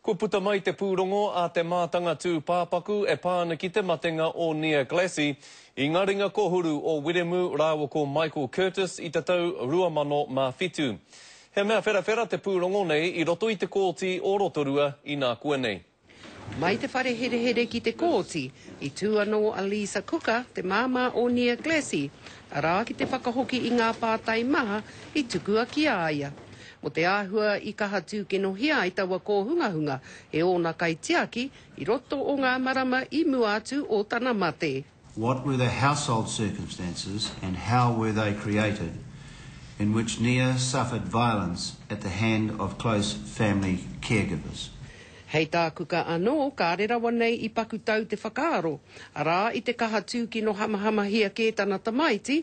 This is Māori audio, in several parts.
Kua puta mai te pūrongo a te mātanga tūpāpaku e pā ana ki te matenga o Nia Glassie i ngā ringa kōhuru o Wiremu rāua ko Michael Curtis i te tau 2007. He mea wherawhera te pūrongo nei i roto i te Kōti o Rotorua inā koe nei. Mai te whare herehere ki te kōti, i tū anō a Lisa Cooker, te māmā o Nia Glassie, arā ki te whakahoki i ngā pātai maha i tukua ki a ia. Ko te āhua i kaha tūkinohia ai taua kōhungahunga e ōna kaitiaki i roto o ngā marama i mua atu o tana mate. What were the household circumstances and how were they created in which Nia suffered violence at the hand of close family caregivers? Hei tā Kuka anō, kāre rawa nei i paku tau te whakaaro, arā, i te kaha tūkinohamahamahia kē tana tamaiti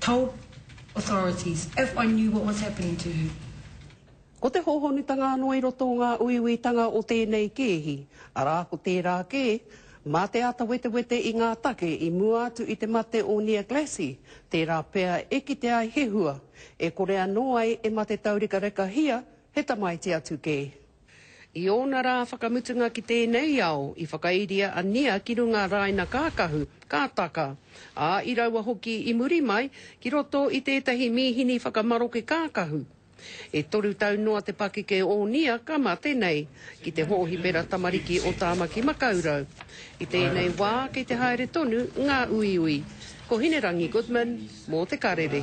told authorities if I knew what was happening to her. Ko te hōhonutanga anō i roto o ngā uiuitanga o tēnei kēhi, arā ko tērā kē, mā te āta wetewete i ngā take i mua atu i te mate o Nia Glassie, tērā pea e kite ai he hua, e kore anō ai e mate taurekarekahia he tamaiti atu kē. I ōna rā whakamutunga ki tēnei ao, i whakairia a Nia ki runga rāina kākahu, ka taka, ā, i raua hoki i muri mai, ki roto i tētahi mīhini whakamaroke kākahu. E toru tau noa te pakeke o Nia ka mate nei, ki te hōhipera tamariki o Tāmaki Makaurau. I tēnei wā kei te haere tonu ngā uiui. Ko Hinerangi Goodman mō Te Karere.